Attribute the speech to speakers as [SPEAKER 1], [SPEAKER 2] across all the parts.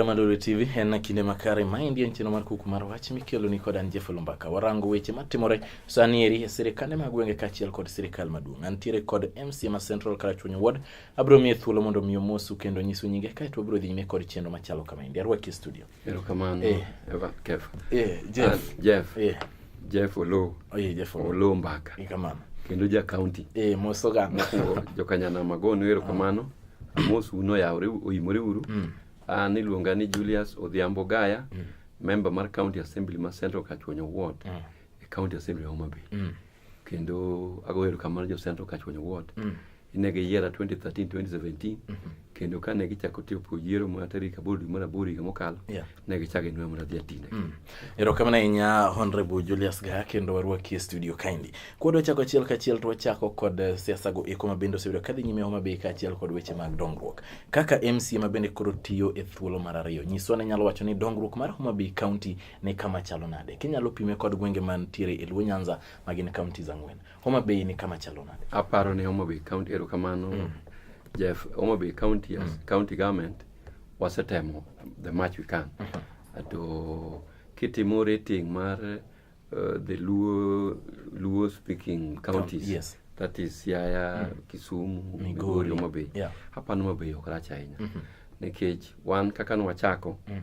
[SPEAKER 1] Madore TV en kinde makare ma endi en chenro mar kuku mar wach mikelo ni kod an Jeffo Lumbaka. Warango weche matimore sani eri e sirkande mag gwenge kaachiel kod sirkal maduong'. Antiere kod MC ma Central Karachuonyo Ward abiro miye thuolo mondo mi omosu kendo nyisu nyinge kae to wabiro dhi nyime kod chenro machalo kama endi arwaki e studio erokamano eh.
[SPEAKER 2] eva kefa eh, jeff ah,
[SPEAKER 1] jeff eh. jeff
[SPEAKER 2] olo oh, yeah, jeff olo, olo
[SPEAKER 1] mbaka
[SPEAKER 2] ekamano kendo ja
[SPEAKER 1] county
[SPEAKER 2] eh, mosoganda
[SPEAKER 1] jokanyana magonu
[SPEAKER 2] erokamano ah. amosu uno yawre oyimore uru mm. an ah, iluonga ni julius odhiambo gaya mm. member mar county assembly ma central kachuonyo ward mm. e county assembly homabay mm. kendo ago erokamano jo Central Kachwony Ward mm. ne giyiera 2013 2017 mm -hmm. kendo kane gichako tiyo po yiero ma tarik aboro dwe mar aboro higa mokalo yeah. ne gichako e nwa mradhi atine mm. erokamano
[SPEAKER 1] ahinya honrebo julius ga kendo warwaki e studio kaindi kod wachako achiel kachiel to wachako kod eh, siasa go eko mabende osebedo kadhi nyime homa bay kaachiel kod weche mag dongruok kaka mca mabende koro tiyo e thuolo mar ariyo nyiswa ne nyalo wacho ni dongruok mar homa bay county ni kama chalo nade? Kinyalo pime kod gwenge mantiere e Luo Nyanza ma gin counties ang'wen. Homa Bay ni kama chalo nade? Aparo ni Homa Bay
[SPEAKER 2] County erokamano. Mm. Jeff, Homa Bay County as mm. county government wasetemo the much we can. Mm -hmm. To kitimo rating mar uh, the Luo Luo speaking counties. Yes. That is
[SPEAKER 1] Siaya,
[SPEAKER 2] mm. Kisumu, Migori, Homa Bay. Yeah. Hapa Homa Bay ok rach ahinya. Mm -hmm. Nikech wan kaka nwachako mm.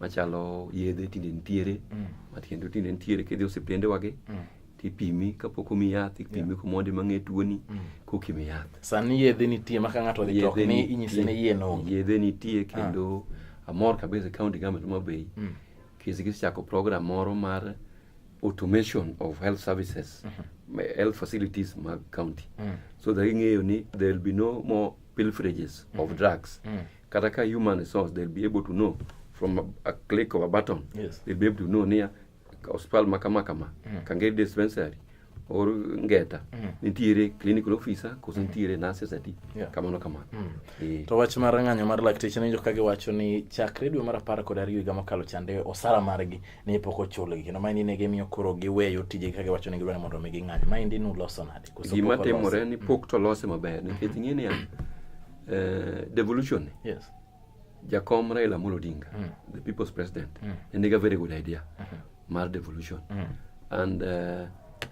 [SPEAKER 2] machalo yedhe tinde nitiere mm. matiendo tinde nitiere kidhi osiptende wagi mm. tipimi kapok omi yath ipimi yeah. komondi mang'e tuoni mm. koki mi yath sani yedhe nitie
[SPEAKER 1] maka ng'ato odhi tok ni inyise ni yien onge yedhe nitie ah. kendo
[SPEAKER 2] ah. amor kabisa county government ma bei mm. kisi gisechako program moro mar automation of health services mm -hmm. health facilities mag county mm. so that ing'eyo ni there will be no more pilferages mm -hmm. of mm-hmm. drugs mm. kata ka human resource they'll be able to know from a, a click of a button yes. they'll be able to know near hospital ma kama kama mm. Kangeri dispensary or Ngeta mm. nitiere clinical officer koso mm. nitiere nurses ati yeah. kamano kamano mm. e. to
[SPEAKER 1] wach mar ng'anyo mar lakteche ne joka giwacho ni chakre dwe mar apar kod ariyo higa mokalo chande osara margi ne pok ochulgi kendo maendi ne gimiyo koro giweyo tijegi ka giwacho ni gidwa ni mondo mi ging'any maendi nuloso nade gima timore ni
[SPEAKER 2] pok to lose maber nikech ing'e niya uh, devolution yes jakom Raila Amolo Odinga mm. the people's president mm. en niga very good idea mm -hmm. mar devolution mm. and uh,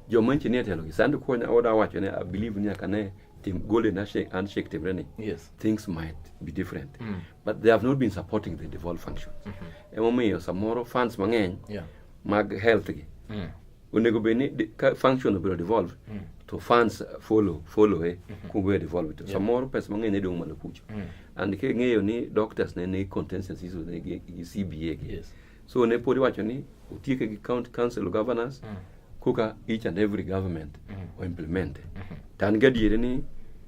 [SPEAKER 2] joma nchi ni atelo gi sand ko na oda wacho ne i believe ni akane tim golden handshake handshake timre ni yes things might be different mm. but they have not been supporting the devolved functions mm -hmm. emomiyo samoro funds mang'eny yeah. mag health gi mm. onego bed ni di- ka function obiro devolve to funds follow follow e kuwe devolve to samoro pesa mang'eny ne dong' mana kucho and king'eyo ni doctors ne ni contentious issues ne gi gi CBA gi Yes. so ne pod iwacho ni otieke gi county council governors koka each and every government o implement To an gadieri ni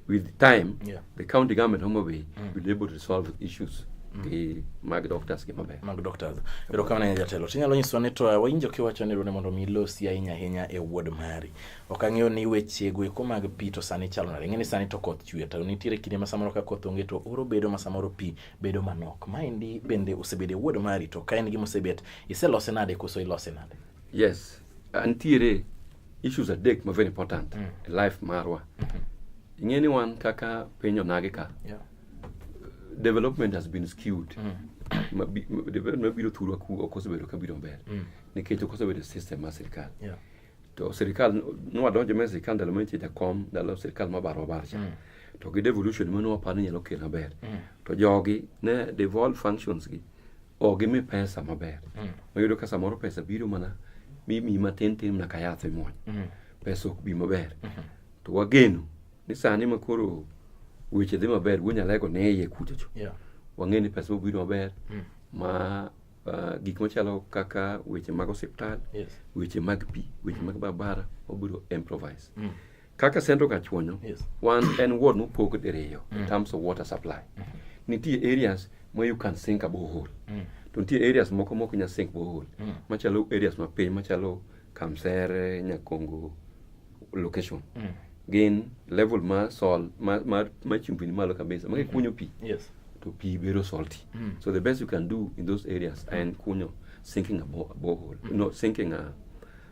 [SPEAKER 2] with time Yeah. the county government Homa Bay will be able to solve issues gi mag doctors gi maber. mag doctors erokamano
[SPEAKER 1] ahinya jatelo tinyalo nyisowa ni to awinjo kiwacho ni rone mondo mi ilosi ahinya ahinya e wuod mari ok ang'eyo ni wechego eko mag pi to sani chalo nade ing'e ni sani to koth chwe to nitiere kinde ma samoro ka koth onge to oro bedo ma samoro pi bedo manok maendi bende osebedo e wuod mari to ka en gima osebet iselose nade koso ilose nade Yes,
[SPEAKER 2] Antiere issues adek ma very important mm. e life marwa. Mm -hmm. Ing'e ni wan kaka piny onagi ka. Yeah. Development has been skewed. Mm. development biro thurwa ku ok osebedo ka biro mbele mm. nikech ok osebedo system mar sirikal yeah. to sirikal nwadonjo me sirikal ndalo mantie jakom ndalo sirikal mabaro obar cha mm. to gi devolution mane waparo ni nyalo kelo maber mm. to jogi ne devolve functions gi ok gimi pesa maber mm. oyudo ka samoro pesa biro mana mimi matin tin na kayath imony mm. pesa ok bi maber mm -hmm. to wageno ni sani ma koro weche dhi maber wuonyalego ne iye kuchocho yeah. wang'e ni pesa mobiro maber mm. ma uh, gik machalo kaka weche mag osiptal yes. weche mag pi weche mm. mag barabara wabiro improvise mm. kaka central kachuonyo yes. wan en ward mopog diriyo mm. in terms of water supply mm. nitie areas ma you can sink a borehole mm. to nitie areas moko mok nya sink borehole mm. machalo areas mapiny machalo kamsere nyakongo location mm. gin level ma sol ma, ma, ma chimbini malo kabisa ma kikunyo mm-hmm. pi yes. to pi bedo salty mm. so the best you can do in those areas mm. en kunyo sinking a borehole mm. no sinking a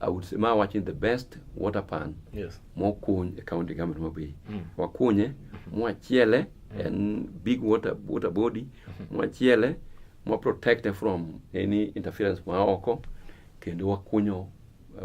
[SPEAKER 2] I would say, ma wacho ni the best water pan Yes. mokuny e county government of Homa Bay. Mm. Wakunye, mwachiele, and big water, water body, mwachiele, mwa protected from any interference ma oko, kendo wakunyo,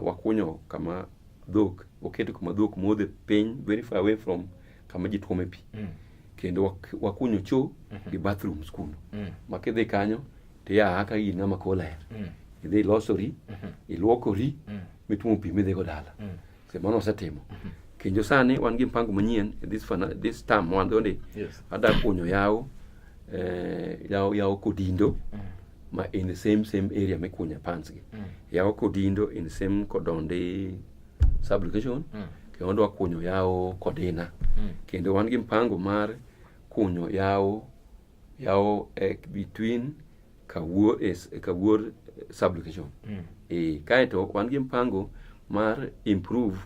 [SPEAKER 2] wakunyo kama dhok, waketo kama dhok modhe piny, very far away from kama ji tuome pi. Mm. Kendo wak- wakunyo choo gi bathrooms kuno. Mm. Ma kidhi kanyo, to ya haka in ng'ama koler mm. idhi ilosori mm -hmm. iluokori mm. mituomo pi midhi go dala mm. se mano osetimo mm -hmm. kendo sani wan gi mpango manyien this, fana, this term wan dhoni yes. ada kunyo yaw eh, yaw, yaw kodindo mm. ma in the same same area mikunye pants gi mm. yaw kodindo in the same kodonde sublocation mm. kendo wadwa kunyo yaw kodina mm. kendo wan gi mpango mar kunyo yaw yawo eh, between kawuor, eh, s- kawuor eh, sublocation Mm. eh, kaeto wan gi mpango mar improve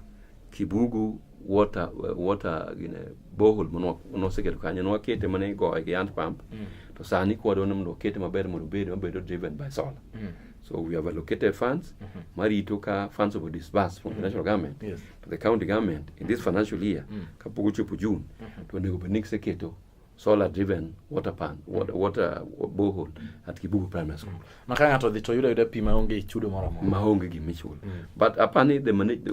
[SPEAKER 2] kibugu water, eh, water gine, borehole mano noseketo kanyo nwakete mane igoye gi hand pump Mm. to sani kwadwa ni mondo okete maber mondo obed mabedo driven by solar Mm. so we have allocated funds Mhm. marito ka funds of disbursed from the national government Yes. to the county government in this financial year Mm. kapok ochopo june Mhm. to onego bed ni giseketo solar driven water pan water, water borehole at Kibugu Primary School. Ma ka ng'ato odhi to yudo
[SPEAKER 1] yudo pi ma onge chudo moro amora. Ma onge gima ichulo.
[SPEAKER 2] Mm. But apani the manage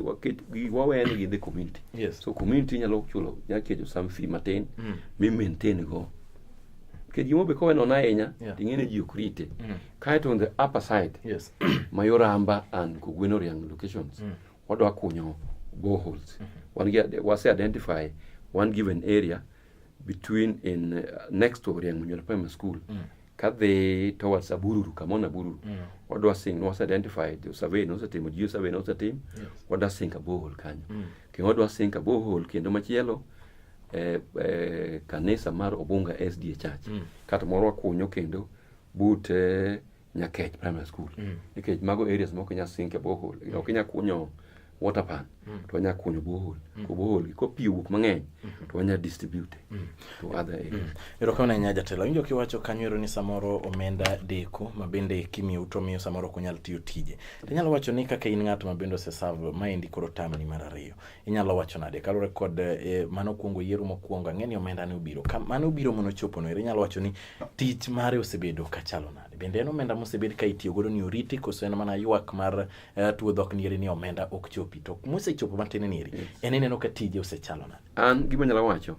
[SPEAKER 2] wawe ni gi the community. Yes. So community nyalo chulo nyalo keto some fee matin mm. mi maintain go. Ke gimo be kowe nona ahinya yeah. ting'ene ji ok rite. Mm. Kaeto on the upper side. Yes. Mayoramba and Kogweno Riang locations. Mm. Wadwa kunyo boreholes. Mm -hmm. Wan gi wase identify one given area between in uh, next to Oriang Munyora Primary School mm. kadhi towards Abururu kamona Abururu mm. wadwa sing was identified the survey no setimo geo survey no setim yes. wadwa sing a borehole kanyo mm. kendo wadwa sing a borehole kendo machielo eh, eh, kanisa mar Obunga SDA Church mm. kata moro wakunyo kendo but eh, Nyakech Primary School mm. nikech mago areas moko inya sink e borehole mm. ok inya kunyo water pan mm. to wanya kunyo borehole mm. ko borehole ko pi owuok mang'eny mm -hmm. to wanya distribute mm. to other areas mm. erokamano ahinya jatelo
[SPEAKER 1] awinjo kiwacho kanyo ero ni samoro omenda deko ma bende kimiyo uto miyo samoro ok onyal tiyo tije to inyalo wacho ni kaka in ng'ato ma bende oseserve ma endi koro term ni mar ariyo inyalo wacho nade kaluwore kod eh, mano okuongo yiero mokuongo ang'e ni omenda ne obiro ka mane obiro mono chopo no inyalo wacho ni tich mare osebedo ka chalo nade bende en omenda mosebed ka itiyo godo ni oriti koso en mana ywak mar eh, tuo dhok nieri ni omenda ok chopi to mosechopo matin nieri en ineno ka tije osechalo nade an gima nyalo wacho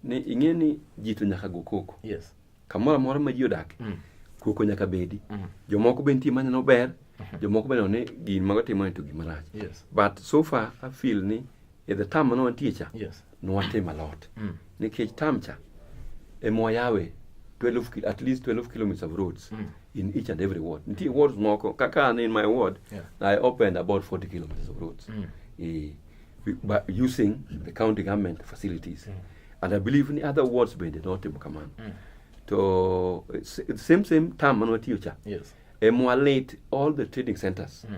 [SPEAKER 2] ni ing'e ni ji to nyaka go koko yes Kamoro amora ma ji odakie, mm. koko nyaka bedi. Mm. Jomoko be nitie maneno ber, mm-hmm. jomoko be neno ni gin mago timo to gima rach. Yes. But so far I feel ni e the time mane wantie cha, yes. nwatimo a lot. Mm. Nikech tam cha, ema wayawe 12, at least 12 kilometers of roads mm. in each and every ward. Nitie wards moko, kaka in my ward, yeah. I opened about 40 kilometers of roads. Mm. E, using the county government facilities. Mm. and I believe ni other words bende notimo kamano mm. to eh, same same term mane watiyo cha yes. e mwalit all the trading centers mm.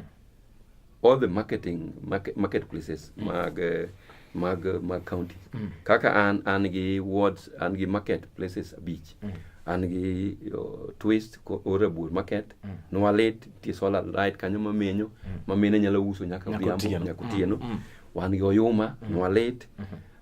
[SPEAKER 2] all the marketing market, market places mm. mag eh, mag eh, mag county mm. kaka an an gi wards an gi market places abich mm. an gi uh, twist orabur market mm. nwalit ti solar light kanyo mamenyo mm. mamine nyalo uso nyaka odhiambo nyaka otieno mm. mm. wan gi oyuma mm. nwalit mm -hmm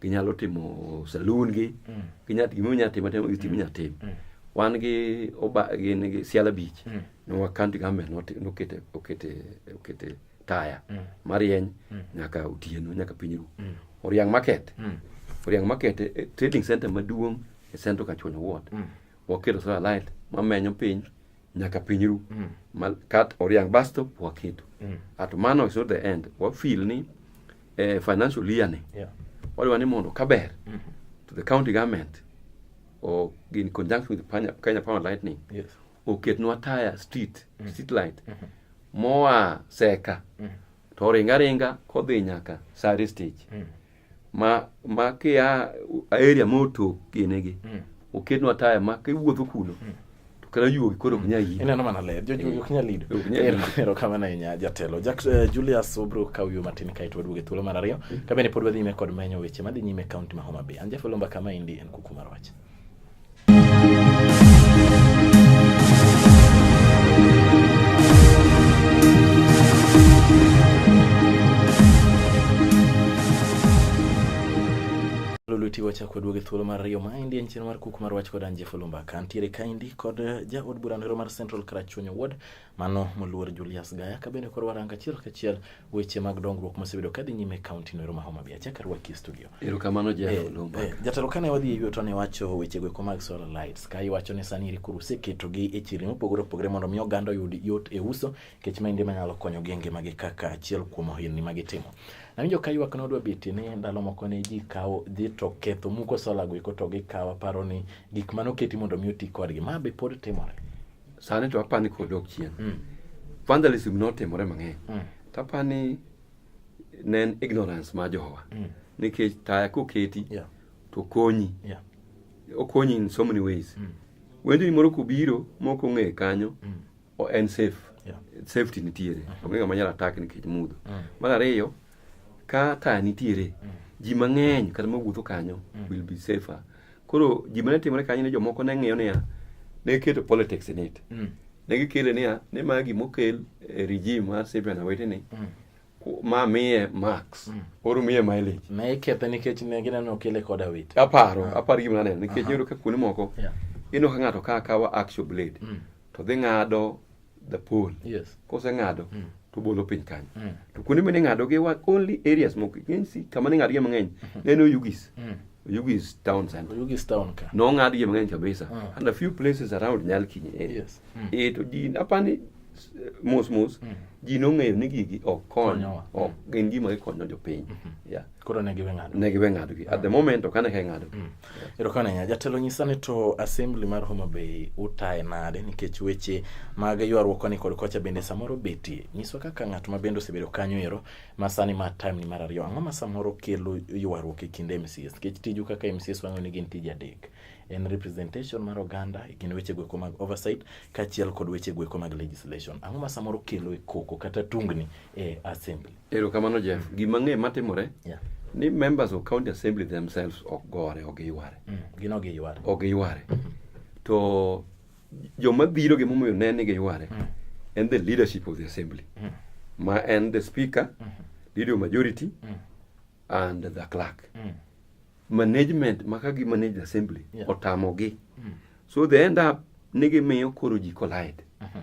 [SPEAKER 2] ginyalo timo saloon gi mm. ginyalo timo ginya timo timo gitimo nya tim mm. wan gi oba gi ne gi siala beach mm. no wa county government no no kete okete okete taya mm. marieny mm. nyaka otieno nyaka piny ru mm. oriang market mm. oriang market e, e, trading center maduong e central kachwonyo ward mm. waketo solar light mamenyo piny nyaka piny ru mm. ma kat oriang basto waketo mm. at mano is not the end wa feel ni eh, financial year ni yeah. wadwa ni mondo kaber mm -hmm. to the county government or in conjunction with Panya, Kenya Power Lightning yes. oketnwa taya street mm. street light mm -hmm. moa seka mm. to ringa ringa kodhi nyaka sari stage mm. ma ma kia area moto kinigi mm. oketnwa taya ma kiwuotho kuno mm. to kata yuogi koro ok nyal yido ineno mana ler jojuogi ok nyal
[SPEAKER 1] yido ero kamano ahinya jatelo Jack, uh, Julius obro kaw yo matin kaeto waduog e thuolo mar ariyo mm. ka bende pod wadhi nyime kod manyo weche madhi nyime kaunti ma Homa Bay an jafwelomba kama indi en kuku mar wach Luti wacha kod wuoge thuolo mar ariyo ma endi en chenro mar kuk mar wach kod Anje Fulumba kantiere kaendi kod jaod bura ndero mar Central Karachuonyo Ward Mano moluor Julius Gaya ka bende koro waranga achiel kachiel weche mag dongruok mosebedo kadhi nyime e kaunti no ero ma Homa Bay. Achaka rwaki e studio. Erokamano Jeff eh,
[SPEAKER 2] Olumba. Eh, jatelo kane wadhi e yuoto
[SPEAKER 1] ne wacho weche go mag solar lights. Ka iwacho ni sani iri kuru seketo gi e chiri mopogore opogore mondo mi oganda oyud yot e uso kech ma inde manyalo konyo gi ngima gi kaka achiel kuom ohelni ma gitimo. Nawinjo ka ywak ne odwa biti ni ndalo moko ne ji kawo dhi to ketho muko solar go eko to gikawo paro ni gik mano keti mondo mi oti kodgi. Ma be pod timore. sani to apani
[SPEAKER 2] kodok chien mm. vandalism notimore mang'eny mm. tapani ne en ignorance ma jowa mm. nikech taya koketi yeah. to konyi yeah. okonyi in so many ways mm. wendni moro kobiro moko ng'e kanyo mm. o en safe yeah. safety nitiere mm. ong'e ng'ama nyalo atak nikech mudho mm. mar ariyo mm. ka ka nitiere mm. ji mang'eny kata mawuotho kanyo mm. will be safer koro ji mane timore kanyo ne jomoko ne ng'iyo niya ne keto politics in it mm. ne gikele niya ne ma gima okel e regime mar Cyprian Awiti ni mm. ma miye max mm. or miye mileage ma ikethe nikech
[SPEAKER 1] ne gineno okele kod Awiti aparo ah. aparo gima naneno
[SPEAKER 2] nikech uh-huh. iyudo ka kuonde moko yeah. ineno ka ng'ato ka kawa action blade mm. to dhi ng'ado the pole yes. koseng'ado mm. to bolo piny kanyo mm. to kuonde mane ng'ado gi wa only areas moko si kama ne ng'ado gi mang'eny mm-hmm. ne en Oyugis mm. Oyugis town center Oyugis town ka no
[SPEAKER 1] ng'ado gi mang'eny kabisa
[SPEAKER 2] mm. and a few places around Nyalkinyi area yes. mm. e to ji apani mos mos mm. ji nong'eyo ni gigi ok kony ok mm. gin gima gikonyo jopiny mm-hmm. yeah koro ne giwe
[SPEAKER 1] ng'ado ne giwe ng'ado gi at the
[SPEAKER 2] moment ok ane ka ing'ado mm. erokamano ahinya
[SPEAKER 1] jatelo nyisa ni to assembly mar homa bay utaye nade nikech weche mag ywaruok koni kod kocha bende samoro betie nyiswa kaka ng'at ma bende osebedo kanyo ero ma sani ma time ni mar ariyo ang'o ma samoro kelo ywaruok e kind mcs nikech tiju kaka mcs wang'eyo ni gin tije adek en representation mar oganda e kind weche gweko mag oversight kaachiel kod weche gweko mag legislation ang'o ma samoro kelo e koko kata tungni e assembly Erokamano Jeff.
[SPEAKER 2] Gima ng'e matimore yeah. ni members of county assembly themselves ok gore, ok giyware. Mm, gin ok giyware.
[SPEAKER 1] Ok giyware. Mm -hmm.
[SPEAKER 2] To joma biro gimomiyo ne ni giyware mm. en the leadership of the assembly. Mm. Ma en the speaker, mm -hmm. leader majority mm. and the clerk. Mm. Management maka gi manage the assembly yeah. otamogi. Mm. So they end up ni gimiyo koro ji collide. Mm -hmm.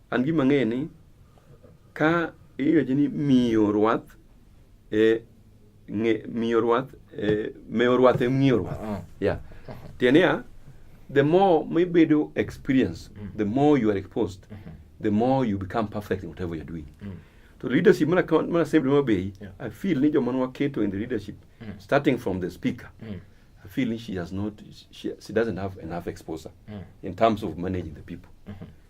[SPEAKER 2] An gima ng'eyo ni ka iwacho ni miyo rwath e nge, miyo rwath e meyo rwath e ng'iyo rwath. Uh -huh. Yeah. Tiende ya the more mibedo experience, mm. the more you are exposed, mm -hmm. the more you become perfect in whatever you're doing. Mm. To leadership mana mana sempre ma bei, yeah. I feel ni joma waketo in the leadership mm. starting from the speaker. Mm. I feel ni she has not she, she doesn't have enough exposure mm. in terms of managing the people. Mm -hmm.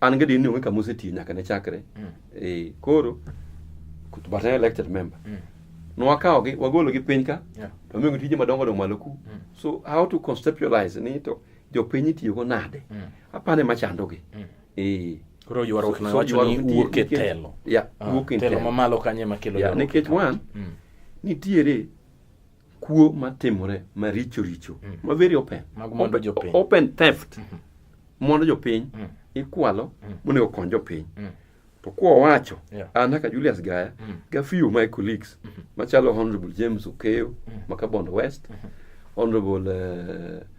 [SPEAKER 2] an gadi ni onge kama osetiyo nyaka ne chakre mm. e, koro but an elected member mm. nwakawogi wagologi piny ka yeah. to miyogi tije madongo dongo malo ku mm. so how to conceptualize ni to jopiny itiyogo nade mm. apane machandogi mm. e,
[SPEAKER 1] koro ywaruok so, nawacho so, ni wuok e telo yeah, ah, wuok e telo
[SPEAKER 2] mamalo kanye
[SPEAKER 1] makelo yeah, nikech wan mm.
[SPEAKER 2] nitiere kuo matimore maricho richo mm. ma very open Mag mwandu open, jopiny. open theft mm-hmm. mwandu jopiny mm. ikwalo mm. monego okony jopiny mm. to kwa owacho yeah. an kaka Julius Gaya mm. ga few my colleagues mm -hmm. machalo Honorable James Okeyo mm. Makabondo West mm -hmm. Honorable uh,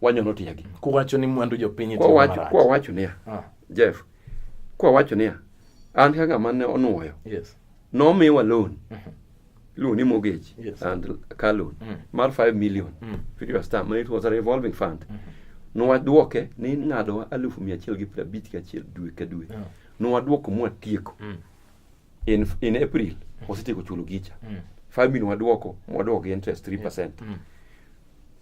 [SPEAKER 2] wanyalo tiegi kuwacho ni mwandu
[SPEAKER 1] jopiny kwawacho
[SPEAKER 2] niya ah. jeff kwawacho niya an kaka mane onwoyo yes.
[SPEAKER 1] nomiwa loan
[SPEAKER 2] mm -hmm. loan ni mortgage yes. and car
[SPEAKER 1] loan
[SPEAKER 2] mm. mar 5 million mm. previous time when it was a revolving fund mm -hmm. nwaduoke ni ng'adowa alufu mia achiel gi piero abich gi achiel dwe ka dwe yeah. nwaduoko mwatieko mm. in, in april mm. wasetieko chulo gicha mm. five million waduoko mwaduoko gi interest 3 percent mm.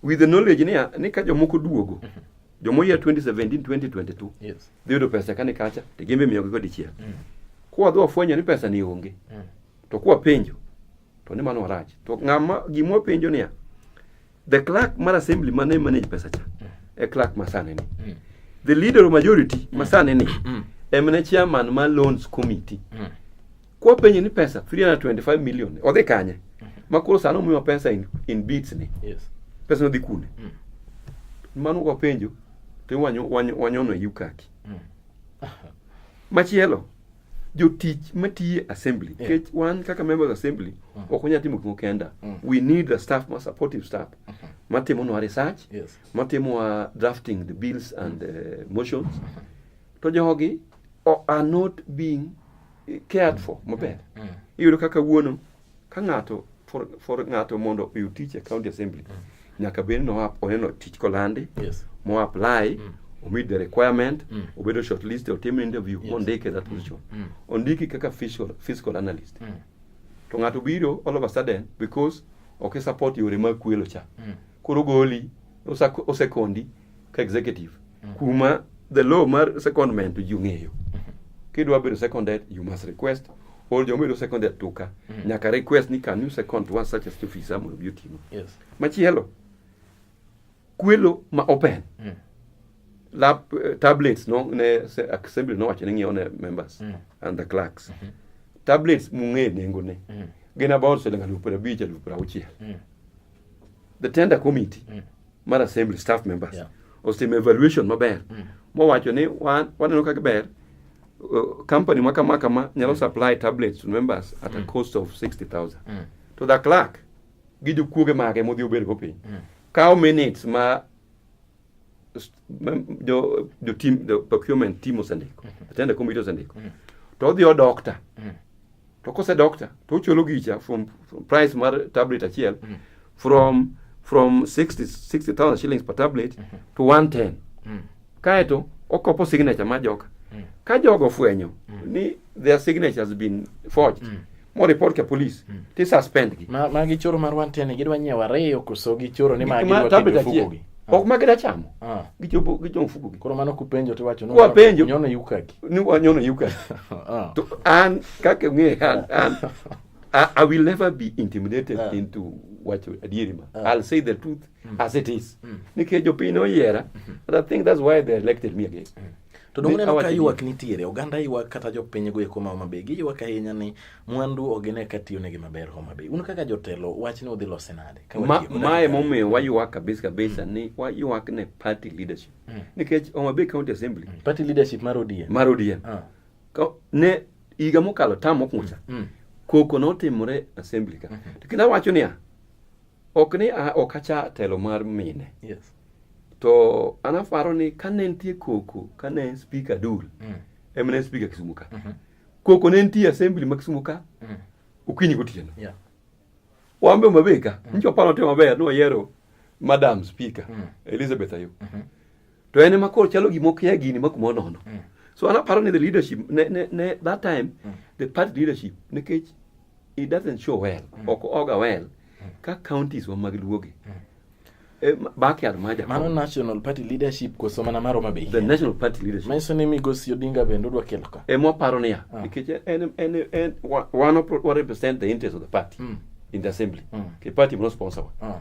[SPEAKER 2] with the knowledge niya ni ka jomoko duogo mm -hmm. jomoyier 2017 2022 yes. dhi yudo pesa
[SPEAKER 1] kani kacha
[SPEAKER 2] to gimbe miyogi go dichiel mm. kwa dhi wafwenyo ni pesa ni onge mm. to kwa penjo to ni mano warach to ng'ama gimwa penjo niya The clerk mar assembly ma ne manage pesa cha mm. e clerk masane ni. Mm. The leader of majority mm. masane ni mm. emne chairman ma loans committee. Mm. Kwa penye ni pesa 325 million odhi kanye? Mm. Ma koro sano muyo pesa in, in bits ni. Yes. Pesa no dhi
[SPEAKER 1] kune.
[SPEAKER 2] Mm. Mano kwa penjo te wanyo wanyo wanyo no yukaki. Mm. Machielo jotich matiye assembly yeah. kech wan kaka members assembly mm -hmm. ok wanyal timo gimo kenda mm -hmm. we need the staff ma supportive staff mm -hmm. matimo nwa research yes. matimo
[SPEAKER 1] uh,
[SPEAKER 2] drafting the bills and uh, motions mm -hmm. to jogi are not being cared for maber mm -hmm. iyudo kaka wuono Ka ng'ato for, for ng'ato mondo oyud tich e county assembly nyaka bed ni oap oneno tich kolandi Yes. mo apply o meet the requirement obedo shortlist otim interview mondike that position ondiki kaka fiscal, fiscal analyst to ng'ato biro all of a sudden because ok i support yore mag kwelo cha koro goli osako- osekondi ka executive mm. kuma the law mar secondment to ji ong'eyo mm-hmm. kidwa bedo seconded you must request or joma bedo seconded tuka mm. nyaka request ni can you second one such as officer mondo bi otimo yes. machielo kwelo ma open mm. lab uh, tablets no ne assembly nowacho ni ng'iewo ne members mm. and the clerks mm -hmm. tablets mung'e nengone mm. gin about siling alufu piero abich alufu piero auchiel mm. the tender committee mm. mar assembly staff members Yeah. osetimo evaluation maber mowacho ni wan- waneno kaka ber uh, company ma kama kama nyalo supply tablets to members at a cost of 60000 Mm. to the clerk gi jokuoge mage modhi obedgo piny kawo minutes ma s- ma- jo jo team jo procurement team osendiko atenda komiti osendiko to odhi odokta to kose doctor to ocholo gicha from, from price mar tablet achiel mm -hmm. from from 60 60000 shillings per tablet mm -hmm. to 110 mm. kaeto okopo signature ma joka mm. ka jogo fwenyo mm. ni their signature has been forged mm mo report ka police mm. ti suspend gi ma, ma gichoro mar 110
[SPEAKER 1] gidwa nyiewo ariyo koso gichoro ni ma gidwa tablet achiel Ah. Ok ma gidachamo. Ah.
[SPEAKER 2] Gichopo gichopo mfuko gi. Koro mano kupenjo to wacho no.
[SPEAKER 1] Kwa penjo. Nyono yukaki.
[SPEAKER 2] Ni wa nyono yukaki.
[SPEAKER 1] Ah.
[SPEAKER 2] To an kake ng'e
[SPEAKER 1] an
[SPEAKER 2] an I, I will never be intimidated ah. into wacho adieri ma. Ah. I'll say the truth mm. as it is. Mm. Nikech jopiny oyiera. Mm -hmm. And I think that's why they elected me again. Mm. To donge neno ka
[SPEAKER 1] ywak nitiere, oganda ywak kata jopiny go eko ma Homa Bay giywak ahinya ni mwandu ok gine ka tiyo negi maber Homa Bay. Un kaka jotelo wach ni udhi lose nade? Ma, ma ema omiyo
[SPEAKER 2] waywak kabisa kabisa mm. ni waywak ne party leadership. Mm. Nikech Homa Bay County Assembly. Mm. Party leadership mar
[SPEAKER 1] ODM. Mar ODM. Ah.
[SPEAKER 2] Ka, ne higa mokalo tam mokucha. Mm. mm. Koko notimore assembly ka. Mm -hmm. To kendo awacho niya, ok ni a ok acha telo mar mine yes.
[SPEAKER 1] to
[SPEAKER 2] an aparo ni kane nitie koko kane spika dul mm. ema ne spika kisumu ka mm -hmm. koko ne nitie assembly ma kisumu ka mm. okinyi gotieno yeah.
[SPEAKER 1] wambe
[SPEAKER 2] omabeka mm. nchi wapano te maber ni wayiero madam spika mm. elizabeth ayo mm -hmm. to en ema koro chalo gima okia gini ma kuma onono mm. so an aparo ni the leadership ne, ne, ne, that time mm. the party leadership nikech it doesn't show well mm. ok oga well mm. ka counties wa mag luoge mm. Eh, backyard maja mano national party
[SPEAKER 1] leadership koso mana maro mabe the national party leadership
[SPEAKER 2] maiso ni migosi odinga
[SPEAKER 1] bende odwa kelo ka emo paro niya ah.
[SPEAKER 2] nikech en en en one of represent the interest of the party mm. in the assembly mm. ke party mno sponsor wa ah.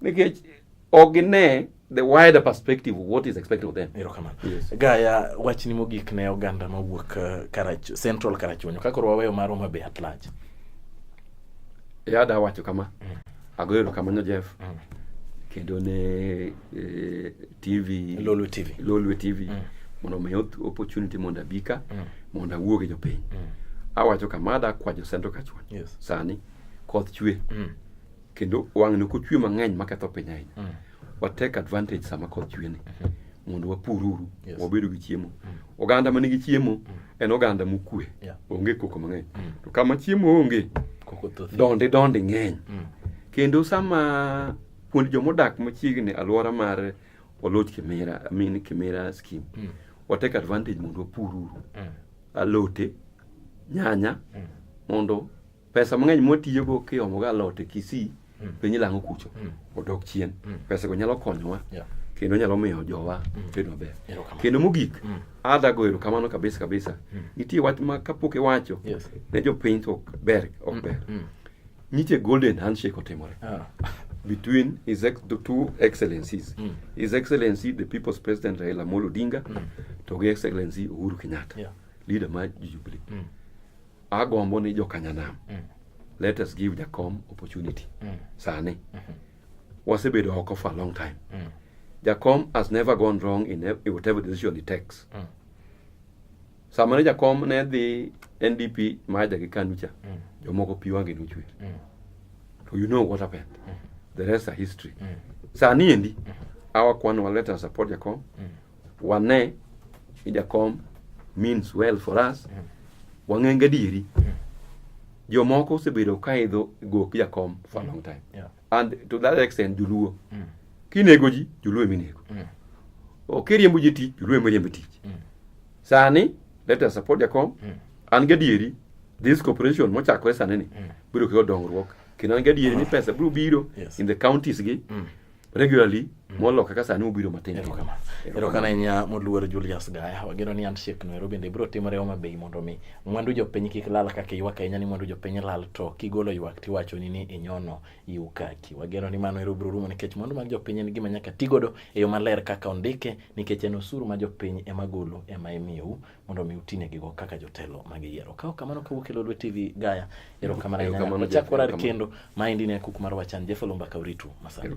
[SPEAKER 2] nikech ok gine the wider perspective of what is expected of them. Erokamano. Yes. Gaya
[SPEAKER 1] wachni mogik ne oganda mawuok uh, Karach Central Karachuonyo kaka koro waweyo maro mabe at large. Ya da
[SPEAKER 2] wacho kama. Mm. Agoyo erokamano Jeff. Mm. Kendo ne eh, TV Lolwe TV. Lolwe TV. Mm. Mondo omiya opportunity mondo abika mm. mondo awuo gi jopiny. Mm. Awacho kama da kwajo Central Karachuonyo. Yes. Sani
[SPEAKER 1] koth
[SPEAKER 2] chwe. Mm. kendo wang' ne ok ochwe mang'eny maketho piny ahinya mm. watek advantage sama koth chwene mm-hmm. mondo wapururu yes. wabedo gi chiemo mm. oganda ma nigi chiemo mm. en oganda mokwe yeah. onge koko mang'eny mm. to kama chiemo onge donde donde ng'eny mm. kendo sama kuond jomodak machiegni alwora mar oloch kimira min kimira scheme mm. watek advantage mondo wapururu mm. alote nyanya mm. mondo pesa mang'eny mwatiyogo kiomogo alot e Kisii mm. piny lang'o kucho mm. odok chien mm. pesago nyalo konyowa yeah. kendo nyalo miyo jowa mm. bedo maber kendo mogik mm. adhago erokamano kabisa kabisa mm. nitie wach ma kapok iwacho yes. ne jopiny to ok ber ok mm, ber mm. nitie golden handshake otimore ah. between his ex the two excellencies mm. his excellency the people's president Raila Amolo Odinga mm. to gi excellency Uhuru Kenyatta yeah. leader ma Jubilee mm. Agombo ni jokanyanam mm. let us give Jakom opportunity mm. sani mm -hmm. wasebedo oko for a long time mm. Jakom has never gone wrong in e-, whatever decision he takes mm. sama ne Jakom ne dhi NDP maja gi KANU cha mm. jomoko pi wange nochwe mm. to you know what happened mm. the rest are history mm. sani endi mm. awa kwanwa let us support Jakom mm. Wane ni jakom means well for us. Mm. Wang'eng gadieri. Mm. Jomoko osebedo ka idho gok jakom for a mm. long time. Yeah. And to that extent joluo. Mm. Kinego ji, joluo emi nego. Mm. Okiriembo ji tich, joluo emi riembo tich. Mm. Sani, let us support jakom. Mm. An gadieri, this corporation mochakore sani ni, mm. biro kelo dongruok. Kendo an gadieri ni pesa biro biro yes. in the counties gi. Mm. regularly mm. molo kaka sani obiro matin erokamano ahinya
[SPEAKER 1] moluor julius gaya wageno ni handshake no ero bende biro timore homa bay mondo mi mwandu jopiny kik lal kaka iywak ahinya ni mwandu jopiny lal to kigolo ywak tiwachoni ni inyono iukaki wageno ni mano ero biro rumo nikech mwandu mag jopiny en gima nyaka tigodo e yo maler kaka ondike nikech en osuru ma jopiny ema golo ema imiyou mondo mi utinegigo kaka jotelo mag yiero. Kawo kamano kawuok e Lolwe TV Gaya, erokamano ahinya. Wachak warar kendo, maendi ne kuk mar wachan Jeff Olumba Kauritu masani.